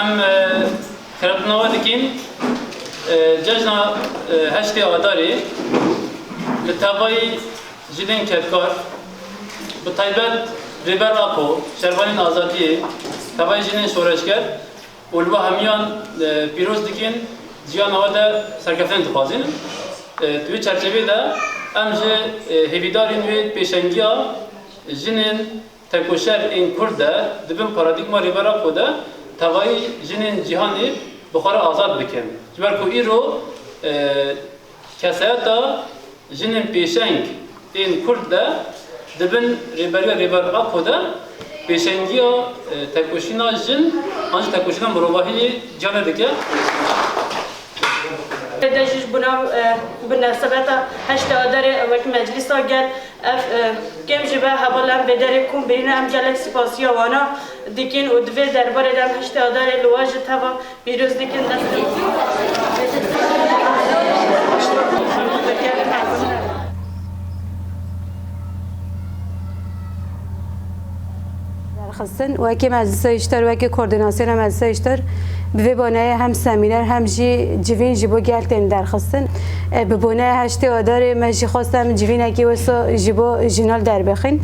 Em xeretinava dikîn cejna heştê Adarê li tevayî jilên kevkar bi taybet Rêber Apo, Şervanên Azadiyê, tevayî jilên şoreşger û li we hemiyan pîroz dikîn, ciyana we de serkeftin dixwazîn. Di wî çerçeveyê de em ji hêvîdarên wê pêşengiya jinên Tekoşer ên Kurd de di bin paradîgma Rêbera xwe de tevayî jinên cîhanê bi xwe re azad bikin. Ji ber ku îro kesayeta jinên pêşeng ên Kurd de di bin rêberiya Rêber Apo de pêşengiya tekoşîna jin an jî tekoşîna mirovahiyê cîhanê dike. Ev kêm ji ber heval em vê derê kom bêne, em gelek spasiya wana dikin û di vê derbarê de em heştê Adarê li we ji teva pîroz dikin. Destê. derxistin wekî meclisa îşter wekî koordînasyona meclisa îşter bi vê boneyê hem semîner hem jî civîn ji bo gel tên derxistin e, bi boneya heştê adarê me jî xwest em civînekî wisa ji bo jinan derbixîn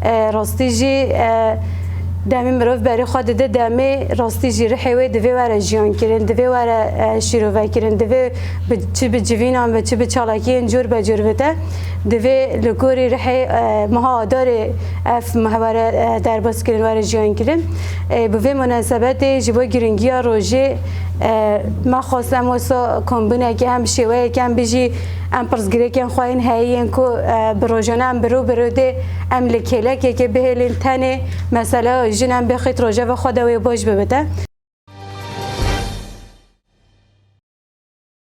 e, rastî jî e, demê mirov berê xwe dide demê rastî jî rihê wê divê were jiyankirin divê were e, şîrovekirin divê çi bi civînan ve çi bi çalakiyên cor be cor bite divê li gorî rihê e, meha adarê Ev muhebare derbas kirin were jiyan kirin. Bi vê munasebetê ji bo giringiya rojê me xwest em wisa kombinekê hem bi şêweyekê em bijî em pirsgirêkên xwe yên heyî yên ku bi rojane em biro biro dê em li kêlekekê bihêlin tenê meseleya jin em bê xît rojeva xwe de wê baş bibite.